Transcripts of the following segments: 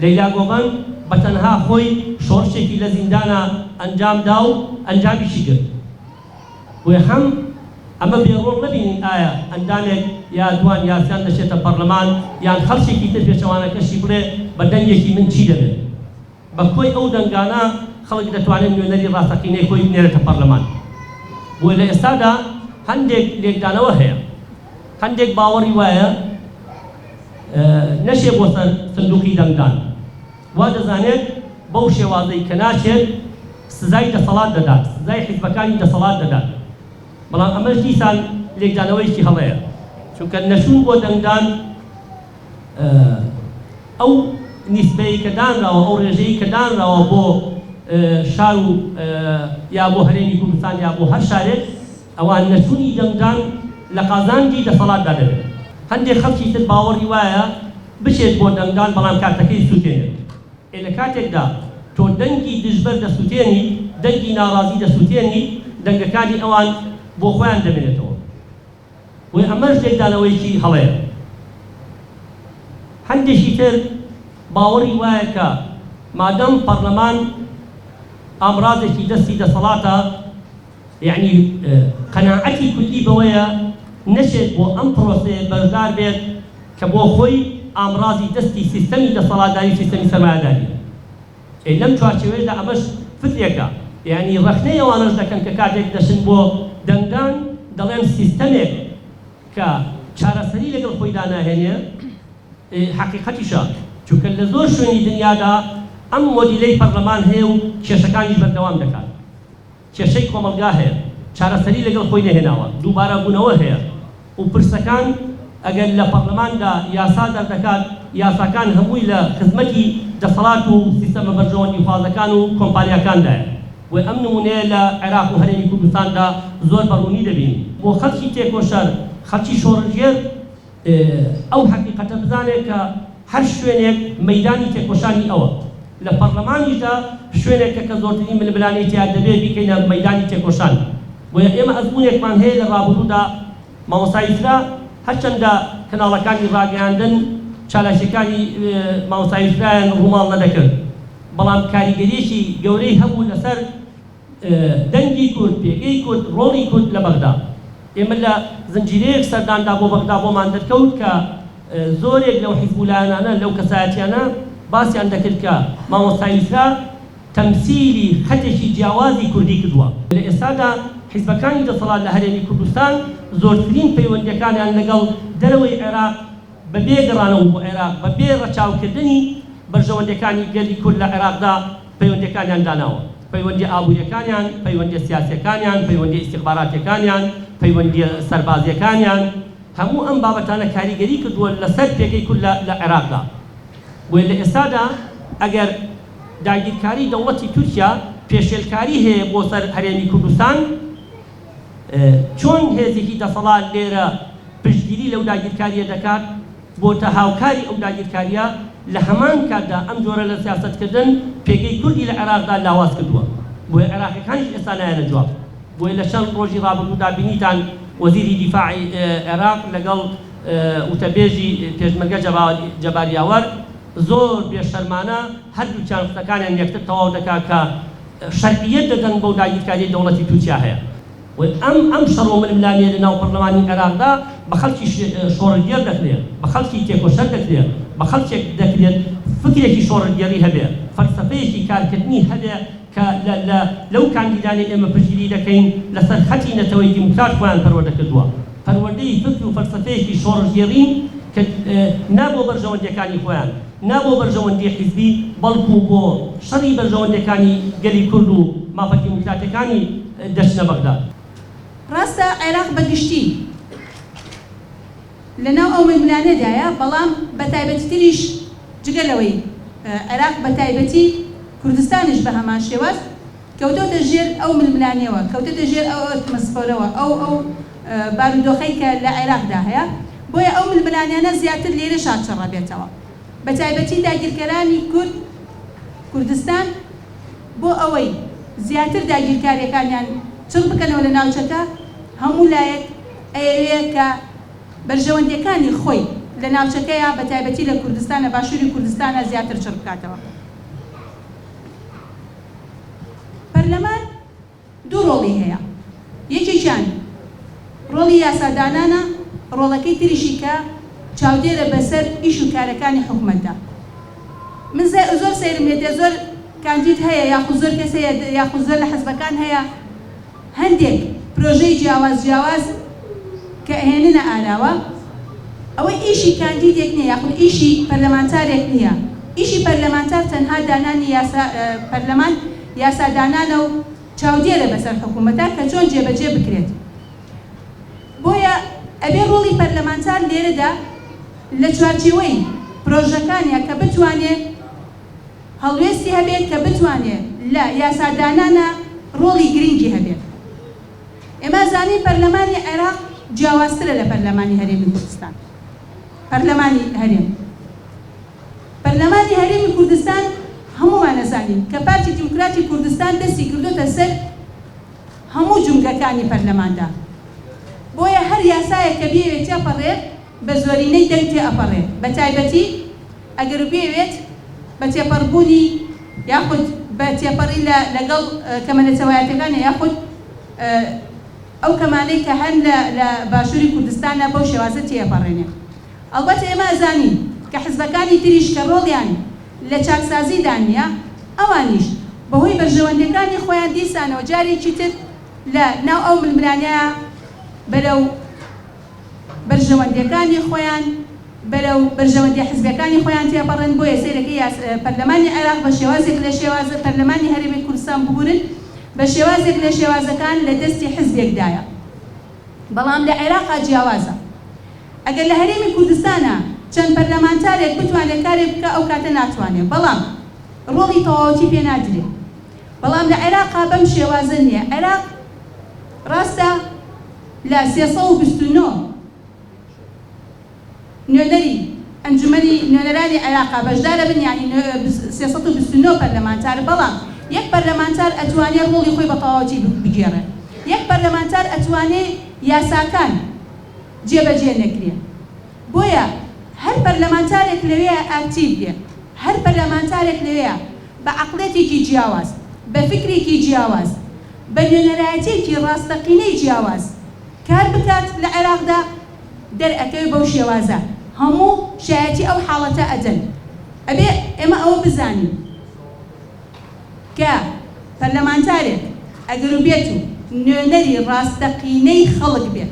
لەیلا گۆڤەن بە تەنها خۆی شۆڕشێکی لە زیندانا ئەنجام دا و ئەنجامیشی گرت. بۆیە هەم ئەمە بێ ڕۆڵ نەبینین ئایا ئەندامێک یا دوان یاسیان دەچێتە پەڕلەمان یان خەڵکێکی تر پێچەوانەکەشی بڵێ بە دەنگێکی من چی دەبێت؟ بە کۆی ئەو دەنگانە خەڵک دەتوانێت نوێنەری ڕاستەقینەی خۆی بنێرێتە پەڕلەمان. بۆیە لە ئێستادا هەندێک لێکدانەوە هەیە. هەندێک باوەڕی وایە نەچێ بۆ سەر سندوقی دەنگدان، وا دەزانێت بەو شێوازەی کە ناچێت سزای دەسەڵات دەدات، سزای حیزبەکانی دەسەڵات دەدات، بەڵام ئەمەش دیسان لێکدانەوەیەکی هەڵەیە، چونکە نەچوون بۆ دەنگدان ئەو نیسبەی کە دانراوە، ئەو ڕێژەی کە دانراوە بۆ شار و یا بۆ هەرێمی کوردستان یا بۆ هەر شارێک، ئەوا نەچوونی دەنگدان لە قازانجی دەسەڵاتدا دەبێت. هەندێک خەڵکی تر باوەڕی وایە بچێت بۆ دەنگدان بەڵام کارتەکەی سووتێنێت. ئێ لە کاتێکدا تۆ دەنگی دژبەر دەسووتێنیت، دەنگی ناڕازی دەسووتێنیت، دەنگەکانی ئەوان بۆ خۆیان دەمێنێتەوە. بۆیە ئەمەش لێکدانەوەیەکی هەڵەیە. هەندێکی تر باوەڕی وایە کە مادام پەڕلەمان ئامڕازێکی دەستی دەسەڵاتە، یەعنی قەناعەتی کوردی بەوەیە نەشێت بۆ ئەم پرۆسەیە بەشدار بێت کە بۆ خۆی ئامڕازی دەستی سیستەمی دەسەڵاتداری و سیستەمی سەرمایەداریە. ئەی لەم چوارچێوەیەدا ئەمەش فکرێکە، یەعنی ڕەخنەی ئەوانەش دەکەن کە کاتێک دەچن بۆ دەنگدان دەڵێن سیستەمێک کە چارەسەری لەگەڵ خۆیدا ناهێنێ حەقیقەتیشە، چونکە لە زۆر شوێنی دنیادا ئەم مۆدیلەی پەرلەمان هەیە و کێشەکانیش بەردەوام دەکات. کێشەی کۆمەڵگا هەیە چارەسەری لەگەڵ خۆی نەهێناوە، دووبارە بوونەوە هەیە و پرسەکان ئەگەر لە پەڕلەماندا یاسا دەردەکات، یاساکان هەمووی لە خزمەتی دەسەڵات و سیستەمە بەرژەوەندیخوازەکان و کۆمپانیاکاندایە و ئەم نموونەیە لە عێراق و هەرێمی کوردستاندا زۆر بە ڕوونی دەبینین. بۆ خەڵکی تێکۆشەر، خەڵکی شۆڕشگێر، ئەو هەقیقەتە بزانێت کە هەر شوێنێک مەیدانی تێکۆشانی ئەوە. لە پەڕلەمانیشدا شوێنێکە کە زۆرترین ململانێی تیا دەبێت بیکەینە مەیدانی تێکۆشان. بۆیە ئێمە ئەزموونێکمان هەیە لە ڕابردوودا مامۆستا یوسرا هەرچەندە کەناڵەکانی ڕاگەیاندن چالاکییەکانی مامۆستا یوسرایان ڕووماڵ نەدەکرد بەڵام کاریگەرییەکی گەورەی هەبوو لەسەر دەنگی کورد، پێگەی کورد، ڕۆڵی کورد لە بەغدا. ئێمە لە زنجیرەیەک سەرداندا بۆ بەغدا بۆمان دەرکەوت کە زۆرێک لەو حیزب و لایەنانە، لەو کەسایەتیانە باسیان دەکرد کە مامۆستا یوسرا تەمسیلی خەتێکی جیاوازی کوردی کردووە. لە ئێستادا حیزبەکانی دەسەڵات لە هەرێمی کوردستان زۆرترین پەیوەندییەکانیان لەگەڵ دەرەوەی عێراق بەبێ گەڕانەوە بۆ عێراق، بەبێ ڕەچاوکردنی بەرژەوەندییەکانی گەلی کورد لە عێراقدا پەیوەندیەکانیان داناوە، پەیوەندیە ئابوریەکانیان، پەیوەندیە سیاسیەکانیان، پەیوەندیە ئیستیخباراتیەکانیان، پەیوەندیە سەربازیەکانیان، هەموو ئەم بابەتانە کاریگەری کردووە لەسەر پێگەی کورد لە لە عێراقدا، بۆیە لە ئێستادا ئەگەر داگیرکاری دەوڵەتی تورکیا پێشێلکاری هەیە بۆ سەر هەرێمی کوردستان، چۆن هێزێکی دەسەڵات لێرە پشتگیری لەو داگیرکارییە دەکات، بۆتە هاوکاری ئەو داگیرکارییە، لە هەمان کاتدا ئەم جۆرە لە سیاسەتکردن پێگەی کوردی لە عێراقدا لاواز کردووە، بۆیە عێراقییەکانیش ئێستا نایەنە جواب، بۆیە لە چەند ڕۆژی ڕابردوودا بینیتان وەزیری دیفاعی عێراق لەگەڵ وتەبێژی پێشمەرگە جەبار یاوەر زۆر بێ شەرمانە هەردووکیان قسەکانیان یەکتر تەواو دەکات کە شەرعیەت دەدەن بەو داگیرکاریەی دەوڵەتی تورکیا هەیە و ئەم ئەم شەڕو ململانێیە لە ناو پەڕلەمانی عێراقدا بە خەڵکی شۆڕلگێڕ دەکرێت بە خەڵکی تێکۆشەر دەکرێت بە خەڵکێک دەکرێت فکرێکی شۆڕلگێڕی هەبێ فەلسەفەیەکی کارکردنی هەبێ کە لە لە لەو کاندیدانەی ئێمە پشتگیری دەکەین لەسەر خەتی نەتەوەی دیموکرات خۆیان پەروەردە کردوە. پەروەردەی فکر و فەلسەفەیەکی شۆڕشگێڕین کە نا بۆ بەرژەوەندییەکانی خۆیان، نا بۆ بەرژەوەندیی حیزبی، بەڵکوو بۆ شەڕی بەرژەوەندییەکانی گەلی کورد و مافە دیموکراتییەکانی دەچنە بەغدا. ڕاستە عێراق بە گشتی لە ناو ئەو ململانێدایە، بەڵام بە تایبەتیتریش جگە لەوەی عێراق بە تایبەتی کوردستانیش بە هەمان شێواز، کەوتۆتە ژێر ئەو ململانێوە، کەوتۆتە ژێر ئەو ئەتمەسفۆرەوە، ئەو ئەو بارودۆخەی کە لە عێراقدا هەیە، بۆیە ئەو ململانێانە زیاتر لێرەشا چڕەبێتەوە، بەتایبەتی داگیرکەرانی کورد کوردستان بۆ ئەوەی زیاتر داگیرکاریەکانیان چڕ بکەنەوە لە ناوچەکە، هەموو لایەک ئەیەوێ کە بەرژەوەندیەکانی خۆی لە ناوچەکەیا بەتایبەتی لە کوردستان لە باشوری کوردستانا زیاتر چڕ بکاتەوە. پەرلەمان دوو ڕۆڵی هەیە، یەکێکیان ڕۆڵی یاسادانانە، ڕۆڵەکەی تریشی کە چاودێرە بەسەر ئیش و کارەکانی حکومەتدا. من زۆر سەیرم هێتێ زۆر کاندید هەیە یاخود زۆر کەس هەیە یاخود زۆر لە حزبەکان هەیە، هەندێک پرۆژەی جیاواز جیاواز کە ئەهێننە ئاراوە ئەوە ئیشی کاندیدێک نیە یاخود ئیشی پەرلەمانتارێک نیە ئیشی پەرلەمانتار تەنها دانانی یاسا پەرلەمان یاسا دانانە و چاودێرە بەسەر حکومەتا کە چۆن جێ بەجێ بکرێت بۆیە ئەبێ ڕۆڵی پەرلەمانتار لێرەدا لە چوارچێوەی پرۆژەکانیا کە بتوانێ هەڵوێستی هەبێت کە بتوانێت لە یاسادانانا ڕۆڵی گرنگی هەبێت. ئێمە ئەزانین پەرلەمانی عێراق جیاوازترە لە پەرلەمانی هەرێمی کوردستان. پەرلەمانی هەرێم پەرلەمانی هەرێمی کوردستان هەموومان ئەزانین کە پارتی دیموکراتی کوردستان دەستی کردۆتە سەر هەموو جومگەکانی پەرلەماندا. بۆیە هەر یاسایەک کە بیەوێت تێپەڕێت بە زۆرینەی دەنگ تێئەپەڕێت بە تایبەتی ئەگەر بیەوێت بە تێپەڕبوونی یاخود بە تێپەڕی لە لەگەڵ کەمە نەتەوایەتیەکانە یاخود ئەو کەمانەی کە هەن لە لە باشووری کوردستانە بەو شێوازە تێئەپەڕێنێ ئەڵبەت ئێمە ئەزانین کە حزبەکانی تریش کە ڕۆڵیان لە چاکسازیدا نیە ئەوانیش بە هۆی بەرژەوەندیەکانی خۆیان دیسانەوە جارێکی تر لە ناو ئەو ململانێە بەرەو بەرژەوەندیەکانی خۆیان بەرەو بەرژەوەندیە حزبیەکانی خۆیان تێپەڕن بۆیە سەیرەکە یاس پەرلەمانی عێراق بە شێوازێک لە شێوازە پەرلەمانی هەرێمی کوردستان ببورن بە شێوازێک لە شێوازەکان لە دەستی حزبێک دایە بەڵام لە عێراقا جیاوازە ئەگەر لە هەرێمی کوردستانا چەند پەرلەمانتارێک بتوانێ کارێک بکا ئەو کاتە ناتوانێ بەڵام ڕۆڵی تەواوەتی پێ نادرێ بەڵام لە عێراقا بەم شێوازە نیە عێراق ڕاستە لە سێ سەد و بیست و نۆ نوێنەری ئەنجومەنی نوێنەرانی عێراقا بەشدارە بن یانی سێ سەد و بیست و نۆ پەرلەمانتار بەڵام یەک پەرلەمانتار ئەتوانێ ڕۆڵی خۆی بە تەواوەتی بگێڕێ یەک پەرلەمانتار ئەتوانێ یاساکان جێ بەجێ نەکرێ بۆیە هەر پەرلەمانتارێک لەوێیە ئاکتیڤ بێ هەر پەرلەمانتارێک لەوێیە بە عەقڵیەتێکی جیاواز، بە فیکرێکی جیاواز، بە نوێنەرایەتیەکی ڕاستەقینەی جیاواز کار بکات لە عێراقدا، دەرئەکەوێ بەو شێوازە هەموو شایەتی ئەو حاڵەتە ئەدەن. ئەبێ ئێمە ئەوە بزانین کە پەرلەمانتارێک ئەگەروبێت و نوێنەری ڕاستەقینەی خەڵک بێت،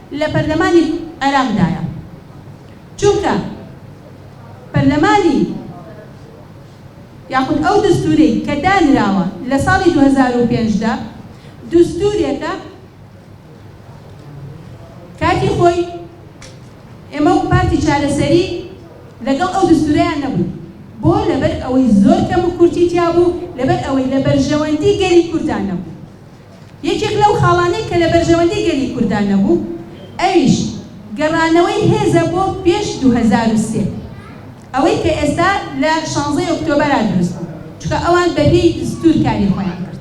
لە پەرلەمانی عێراقدایە، چونکە پەرلەمانی یاخود ئەو دەستوورەی کە دانراوە لە ساڵی دوو هەزار و پێنج دا دەستوورێکە کاتی خۆی ئێمە وەک پارتی چارەسەری لەگەڵ ئەو دەستوورەیان نەبووین، بۆ؟ لەبەر ئەوەی زۆر کەموکورتی تیابوو، لەبەر ئەوەی لە بەرژەوەندی گەلی کورددا نەبوو. یەکێک لەو خاڵانەی کە لە بەرژەوەندی گەلی کوردا نەبوو، ئەویش گەڕانەوەی هێزە بۆ پێش دوو هەزار و سێ، ئەوەی کە ئێستا لە شانزەی ئۆکتۆبەرا دروست بوو، چونکە ئەوان بە پێی دەستوور کاری خۆیان کرد.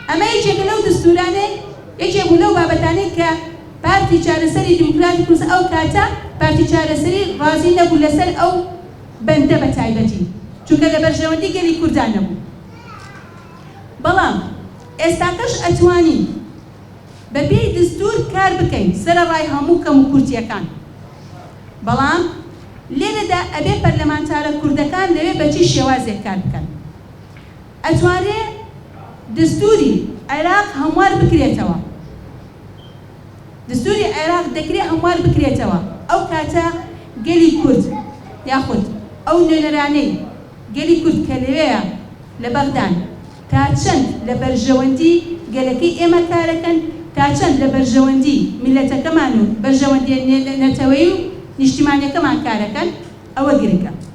ئەمە یەکێکە لەو دەستوورانەی، یەکێک بوو لەو بابەتانەی کە پارتی چارەسەری دیموکراتی کوردستان، ئەو کاتە پارتی چارەسەری ڕازی نەبوو لەسەر ئەو بەندە بە تایبەتی، چونکە لە بەرژەوەندی گەلی کوردا نەبوو. بەڵام ئێستاکەش ئەتوانین بە پێی دستور کار بکەین سەرە ڕای هەموو کەم و کورتیەکان بەڵام لێرەدا ئەبێ پەرلەمانتارە کوردەکان لەوێ بە چی شێوازێک کار بکەن ئەتوانرێ دستوری عێراق هەموار بکرێتەوە دستوری عێراق دەکرێ هەموار بکرێتەوە ئەو کاتە گەلی کورد یاخود ئەو نوێنەرانەی گەلی کورد کە لەوێیە لە بەغدان تا چەند لە بەرژەوەندی گەلەکەی ئێمە کارەکەن، تا چەند لە بەرژەوەندی میللەتەکەمان و بەرژەوەندیە نەتەوەیی و نیشتیمانیەکەمان کارەکەن، ئەوە گرنگە.